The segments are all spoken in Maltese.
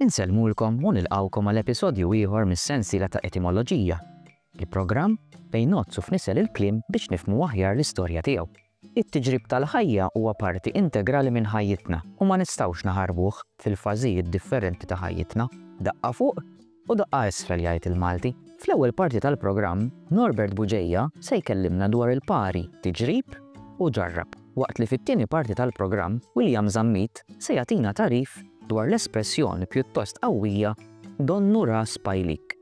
Insellmulkom u nilqgħukom għal episodju ieħor mis-sensiela ta' Etimoloġija, il-programm fejn ngħoddsu f'nisel il-kliem biex nifhmu aħjar l-istorja tiegħu. It-tiġrib tal-ħajja huwa parti integrali minn ħajjitna u ma nistgħux naħarbuh fil-fażijiet differenti ta' ħajjitna. Daqqa fuq u daqqa isfel jgħid il-Malti. Fl-ewwel parti tal-programm, Norbert Buġeja se jkellimna dwar il-pari tiġrib u ġarrab. waqt li fit-tieni parti tal-programm William Zammit se jagħtina tagħrif dwar l-espressjoni pjuttost qawwija Donnu ras pajlik.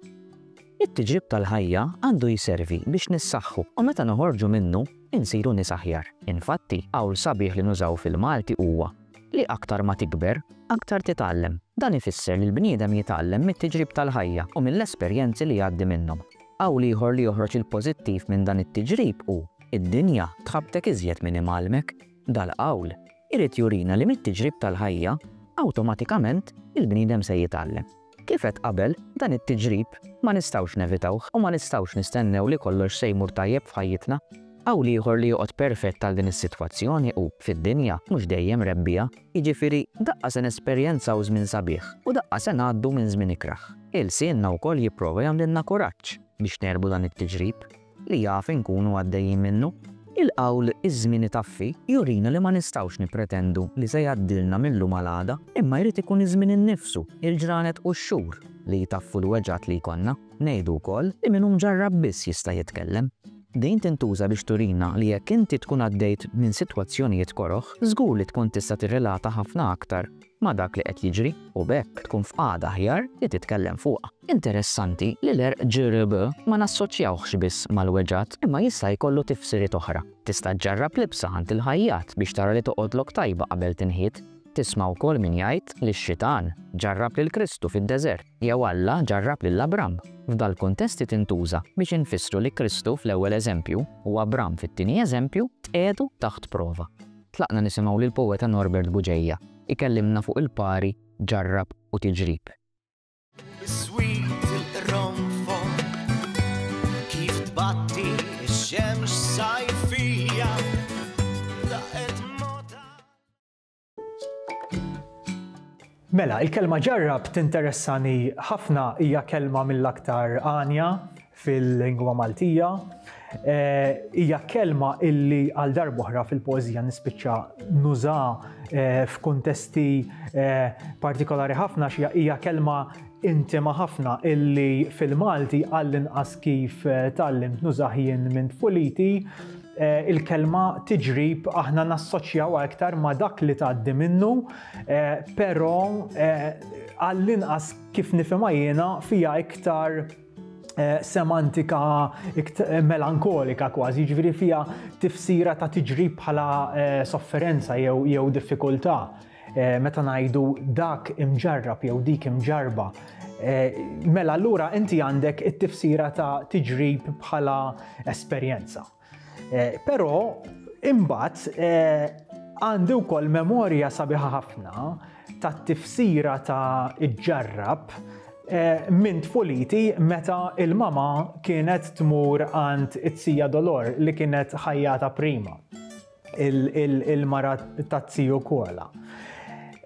It-tiġrib tal-ħajja għandu jservi biex nissaħħu u meta noħorġu minnu insiru nies aħjar. Infatti, qawl sabiħ li nużaw fil-Malti huwa li aktar ma tikber, aktar titgħallem. Dan ifisser li l-bniedem jitgħallem mit-tiġrib tal-ħajja u mill-esperjenzi li jgħaddi minnhom. Qawl ieħor li joħroġ il-pożittiv minn dan it-tiġrib hu, Id-dinja tħabbtek iżjed minn imgħallmek. Dal-qawl irid jurina li mit-tiġrib tal-ħajja, awtomatikament il-bniedem se jitgħallem. Kif għedt qabel, dan it-tiġrib ma nistgħux nevitawh u ma nistgħux nistennew li kollox se jmur tajjeb f'ħajjitna. Qawl ieħor li joqgħod perfett għal din is-sitwazzjoni hu, Fid-dinja mhux dejjem rebbiegħa Jiġifieri, daqqa se nesperjenzaw żmien sabiħ u daqqa se ngħaddu minn żmien ikrah. Ilsienna wkoll jipprova jagħmlilna kuraġġ biex negħlbu dan it-tiġrib li jaf inkunu għaddejjin minnu. Il-qawl Iż-żmien itaffi jurina li ma nistgħux nippretendu li se jgħaddilna mil-lum għal għada, imma jrid ikun iż-żmien innifsu, il-ġranet u x-xhur li jtaffu l-weġgħat li jkollna. Ngħidu wkoll li min hu mġarrab biss jista' jitkellem. Din tintuża biex turina li jekk inti tkun għaddejt minn sitwazzjonijiet koroh, żgur li tkun tista' tirrelata ħafna aktar ma' dak li qed jiġri u b'hekk tkun f'qagħda aħjar li titkellem fuqha. Interessanti li l-għerq GRB ma nassoċjawhx biss mal-weġgħat imma jista' jkollu tifsiriet oħra. Tista' ġġarrab libsa għand il-ħajjat biex tara li toqgħodlok tajba qabel tinħit. Tisma' wkoll min jgħid li x-Xitan ġarrab lil Kristu fid-deżert. Jew Alla ġarrab lil Abram. F'dal-kuntesti tintuża biex infissru li Kristu fl-ewwel eżempju u Abram fit-tieni eżempju tqiegħdu taħt prova. Tlaqna nisimgħu lill-poeta Norbert Buġeja jkellimna fuq il-pari ġarrab u tiġrib. Mela, il-kelma ġarrab tinteressani ħafna hija kelma mill-aktar għanja fil-lingwa Maltija. Eh, hija kelma illi għal darbohra fil-poezija nispiċċa nuża eh, f'kuntesti eh, partikolari ħafna xi hija kelma Intima ħafna illi fil-Malti għall-inqas kif tgħallimt nużah jien minn tfuliti, il-kelma tiġrib aħna nassoċjawha iktar ma' dak li tgħaddi minnu, però għall-inqas kif nifhimha jiena fiha iktar semantika melankolika kważi, jiġifieri fiha tifsira ta' tiġrib bħala sofferenza jew diffikultà. Meta ngħidu dak imġarrab jew dik imġarba, mela allura inti għandek it-tifsira ta' tiġrib bħala esperjenza. Però imbagħad għandi wkoll memorja sabiħa ħafna ta' tifsira ta' iġġarrab eh, minn tfuliti meta il-mama kienet tmur għand it-sija dolor li kienet ħajjata prima. il-mara ta' ziju Koala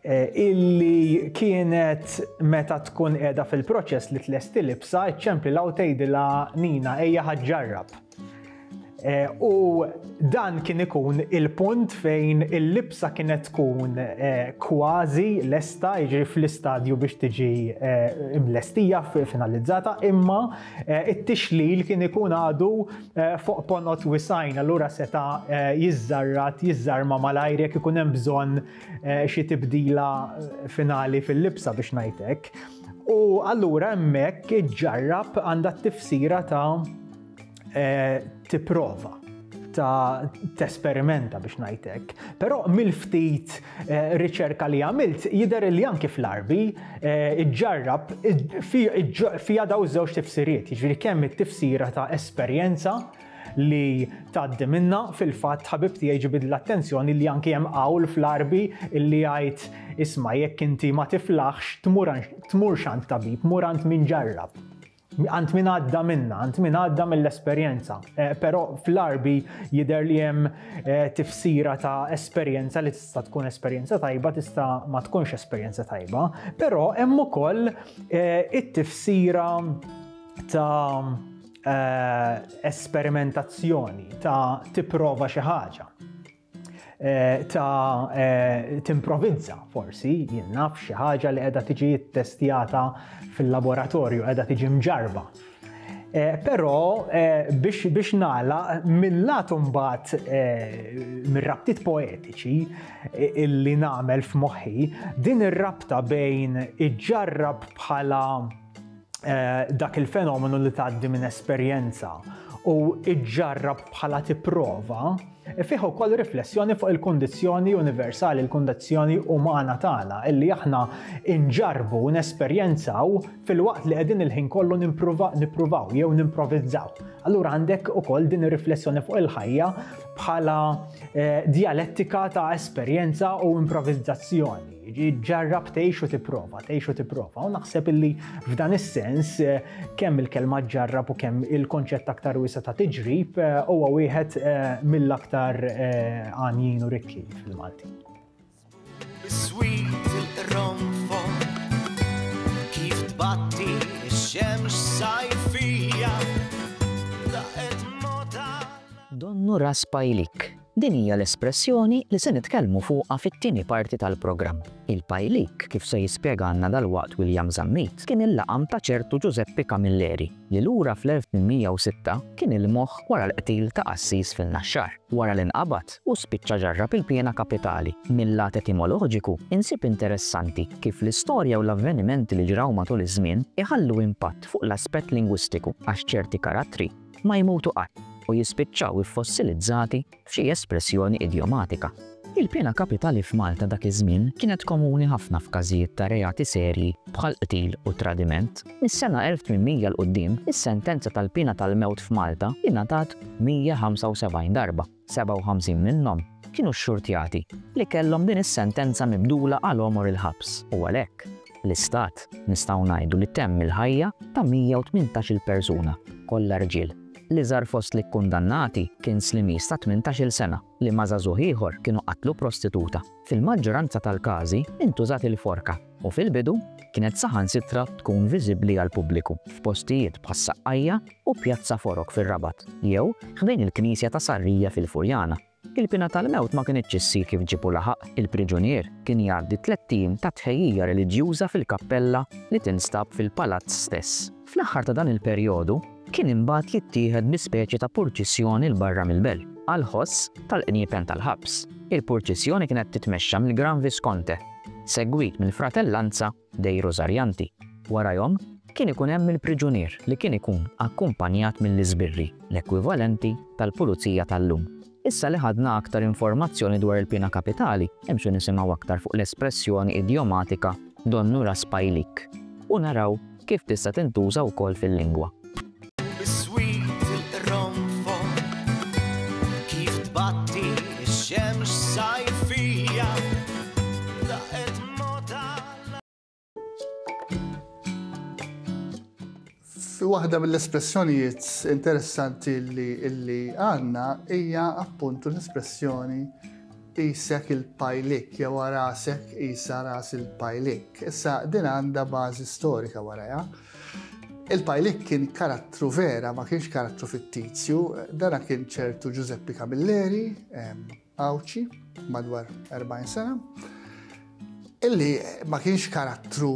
Eh, illi kienet meta tkun edha fil-proċess li tlesti libsa, ċempli law tgħidilha Nina ejja ħaġġarrab. Eh, u dan kien ikun il-punt fejn il-libsa kienet tkun eh, kważi lesta, jiġri fl-istadju biex tiġi imlestija, finalizzata, imma it-tixlil kien ikun għadu fuq ponot wisgħin allura seta' jiżżarrat, jiżżarma malajr jekk ikun hemm bżonn xi tibdila finali fil-libsa biex ngħidlek. U allura hemmhekk iġġarrab għandha t-tifsira ta' tipprova ta' tesperimenta biex ngħidlek. Però mill-ftit riċerka li għamilt jidher li anki fl-Għarbi ġġarrab fiha daw żewġ tifsiriet, jiġri kemm it-tifsira ta' esperjenza li tgħaddi minna fil-fatt ħabib tiegħi ġibid l-attenzjoni li anki hemm qawl fl-Għarbi li jgħid isma' jekk inti ma tiflaħx tmur x'għand tabib, mur għand min ġarrab. għand min għadda minna, għand min għadda mill-esperjenza. Eh, però fl-arbi jider li hemm eh, tifsira ta' esperjenza li tista' tkun esperjenza tajba, tista' ma tkunx esperjenza tajba, però hemm ukoll eh, it-tifsira ta' esperimentazzjoni, ta' tipprova xi ħaġa. Eh, ta' eh, timprovinza forsi, jien naf xi ħaġa li qiegħda tiġi ttestjata fil-laboratorju, qiegħda tiġi mġarba. Eh, però biex biex nala mill-lat mbagħad mir-rabtiet poetiċi illi nagħmel f'moħħi din ir-rabta bejn iġġarrab bħala Eh, dak il-fenomenu li tgħaddi minn esperjenza u iġġarrab bħala tipprova e fih ukoll riflessjoni fuq il-kundizzjoni universali, il-kundizzjoni umana tagħna illi aħna inġarbu u nesperjenzaw fil-waqt li qegħdin il-ħin kollu nippruvaw jew nimprovizzaw. Allura għandek ukoll din ir-riflessjoni fuq il-ħajja bħala eh, dialettika ta' esperjenza u improvizzazzjoni. Ġarrab tgħix u tipprova, tgħix u tipprova. U naħseb illi f'dan is-sens eh, kemm il-kelma ġarrab u kemm il-konċett aktar wiesa ta' tiġrib eh, huwa wieħed eh, mill-aktar għanjin u rikki fil-Malti. Kif tbatti x-xemx sajfija Donnu Raspajlik Din hija l-espressjoni li se nitkellmu fuqha fit-tieni parti tal-programm. Il-pajlik, kif se jispjegalna dalwaqt William Zammit, kien il-laqam ta' ċertu Ġużeppi Camilleri li lura fl-1806 kien il-moħħ wara l-qtil ta' qassis fin-Naxxar. Wara li nqabad u spiċċa ġarrab il-piena kapitali, mil-lat etimoloġiku insib interessanti kif l-istorja u l-avvenimenti li ġraw matul iż-żmien iħallu impatt fuq l-aspett lingwistiku għax ċerti karattri, ma jmutu qatt u jispiċċaw iffossilizzati f'xi espressjoni idjomatika. Il-piena kapitali f'Malta dak iż-żmien kienet komuni ħafna f'każijiet ta' reati serji bħal qtil u tradiment. Mis-sena 1800 'l quddiem, is-sentenza tal-piena tal-mewt f'Malta ingħatat 175 darba. 57 minnhom kienu xxurtjati li kellhom din is-sentenza mibdula għal għomor il-ħabs u għalhekk, l-Istat nistgħu ngħidu li temm il-ħajja ta' 118-il persuna, kollha rġiel. L-iżgħar fost l-ikkundannati kien Slimiż ta' tmintax-il sena li ma' żagħżugħ ieħor kienu qatlu prostituta. Fil-maġġoranza tal-każi intużat il-forka. u fil-bidu kienet saħansitra tkun viżibbli għall-pubbliku f'postijiet bħas-Saqqajja u Pjazza Forok fir-Rabat jew ħdejn il-Knisja ta' Sarrija fil-Furjana. Il-piena tal-mewt ma kinitx issir kif ġieb u laħaq, il-priġunier kien jgħaddi tlett ijiem ta' tħejjija reliġjuża fil-kappella li tinstab fil-palazz stess. Fl-aħħar ta' dan il-perjodu kien imbagħad jittieħed bi speċi ta' purċissjoni 'l barra mill-belt, għall-ħoss tal-qniepen tal-ħabs. Il-purċissjoni kienet titmexxa mill-Gran Visconte, segwit mill-Fratellanza dei Rosarianti. Warajhom kien ikun hemm il-priġunier li kien ikun akkumpanjat mill-iżbirri, l-ekwivalenti tal-pulizija tal-lum. Issa li ħadna aktar informazzjoni dwar il-piena kapitali, imxu nisimgħu aktar fuq l-espressjoni idjomatika donnu ras pajlik u naraw kif tista' tintuża wkoll fil-lingwa. Biswit il-qronfol kif tbatti x-xemx sajfija. Waħda mill-espressjonijiet interessanti li għanna hija appuntu l-espressjoni isek il-pajlik, jew rasek isa ras il-pajlik. Issa din għandha bażi storika warajha. Il-pajlik kien karattru vera, ma kienx karattru fittizju, dana kien ċertu Giuseppe Camilleri, Għawdxi, madwar 40 sena, illi ma kienx karattru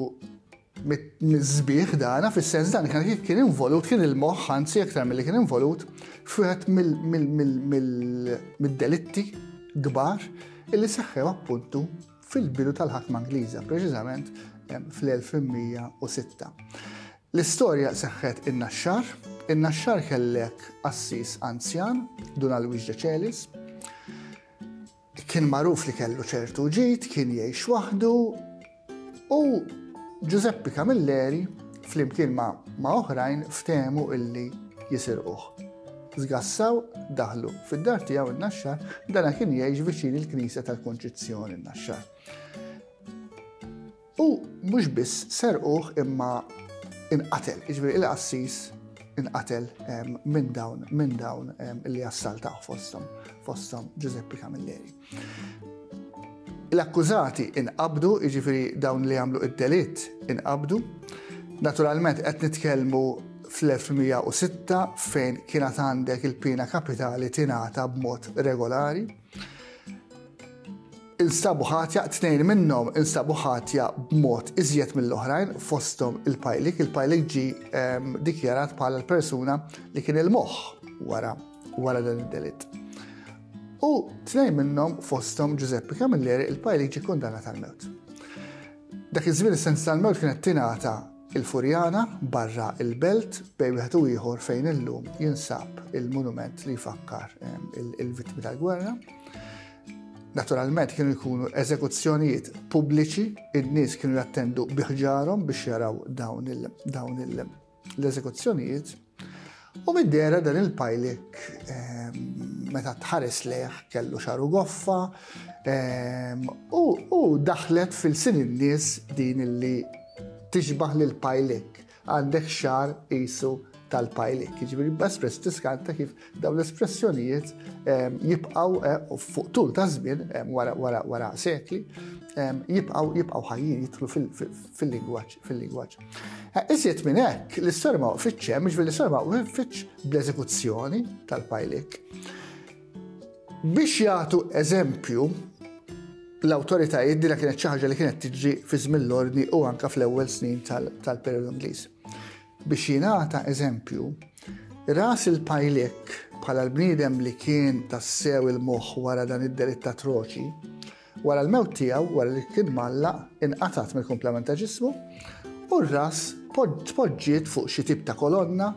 mill-żbieħ dana, fis-sens dan kien involut, kien il-moħħ, anzi aktar mill-li kien involut, f'wieħed mill-delitti kbar illi seħħew appuntu fil-bidu tal-ħakma Ingliża, preċiżament fl-1106. L-istorja seħħet in-Naxxar. In-Naxxar kellek qassis anzjan, Dun Alwiġ Decelis. Kien magħruf li kellu ċertu ġid, kien jgħix waħdu u Ġużeppi Camilleri flimkien ma' oħrajn ftehmu illi jisirquh. Zgassaw, daħlu fid-dar tiegħu n-naxxar, dana kien jgħix viċin il-Knisja tal-Kunċizzjoni n-naxxar. U mhux biss serquh imma inqatel, jiġifieri il-qassis inqatel minn dawn minn dawn li assaltaw fosthom fosthom Giuseppe Camilleri. L-akkużati inqabdu, jiġifieri dawn li għamlu id-delitt inqabdu. Naturalment qed nitkellmu fl-1906 fejn kienet għandek il-pina kapitali tingħata b'mod regolari. Instabu ħatja, tnejn minnhom instabu ħatja b'mod iżjed mill-oħrajn fosthom il-pajlik. Il-pajlik ġi ehm, dikjarat bħala l-persuna li kien il-moħħ wara wara dan id-delitt. U tnejn minnhom fosthom Giuseppe Camilleri il-pajlik ġi kundana tal-mewt. Dak iż-żmien is-sens tal-mewt kienet tingħata Il-Furjana, barra l-Belt, bejn wieħed u ieħor fejn illum jinsab il-monument li jfakkar il-vittmi tal-gwerra. Naturalment kienu jkunu eżekuzzjonijiet pubbliċi, id-nies kienu jattendu biħġarhom biex jaraw dawn l-eżekuzzjonijiet. U mid-dera dan il-pajlik ehm, meta tħares leħ kellu xaru goffa ehm, u daħlet fil-sin in-nies din illi tixbaħ lil pajlik għandek xar isu tal-pajlik. Ġibri, espress tiskanta kif dawn l-espressjonijiet ehm, jibqaw eh, fuq tul ta' żmien wara sekli jibqaw jibqaw ħajjin jitlu fil-lingwaġġ. fil-lingwaġġ. Eh, iżjed minn hekk, l-istorja ma waqfitx hemm, ġifieri l-istorja ma waqfitx bl-eżekuzzjoni tal-pajlik. Biex jagħtu eżempju, l-awtoritajiet dina kienet xi ħaġa li kienet tiġi fi żmien l-ordni u anka fl-ewwel snin tal-perjodu Ingliż. Biex jingħata eżempju, ras il-pajlik bħala l-bniedem li kien tassew il-moħħ wara dan id-delitt atroċi, Wara l-mewt tiegħu, wara li kien mgħallaq, inqatgħet mill-kumplament ta' ġismu u r-ras tpoġġiet fuq xi tip ta' kolonna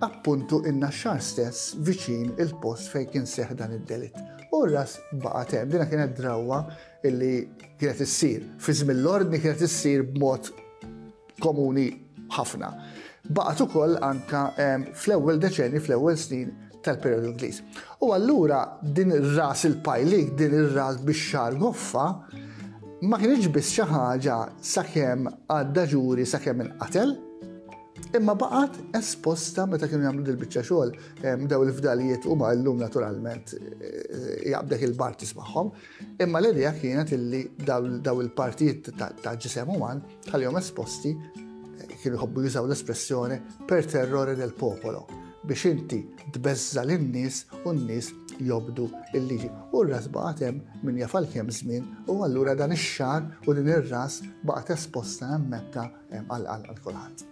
appuntu in-naxxar stess viċin il-post fejn kien seħ dan id-delitt. U ras baqa' tem, dina kienet drawwa illi kienet issir. Fi żmien l-ordni kienet issir b'mod komuni ħafna. Baqgħet ukoll anka fl-ewwel deċenji, fl-ewwel snin tal-periodu Ingliż. U allura din ir-ras il-pajlik, din ir-ras biex xar goffa, ma kienx biss xi ħaġa sakemm għadda ġuri sakemm inqatel, imma baqgħet esposta meta kienu jagħmlu dil-biċċa xogħol daw il-fdalijiet huma llum naturalment eh, jaqbdek il-partis magħhom, imma l-idea kienet illi daw il-partijiet ta' ġisem uman Tal-jom esposti kienu jħobbu jużaw l-espressjoni per terrore del popolo biex inti tbeżza lin-nies u n-nies jobdu il-liġi. U r-ras baqgħet hemm minn jafal kemm żmien u allura dan ix-xar u din ir-ras baqgħet esposta hemm Mekka hemm għal kulħadd.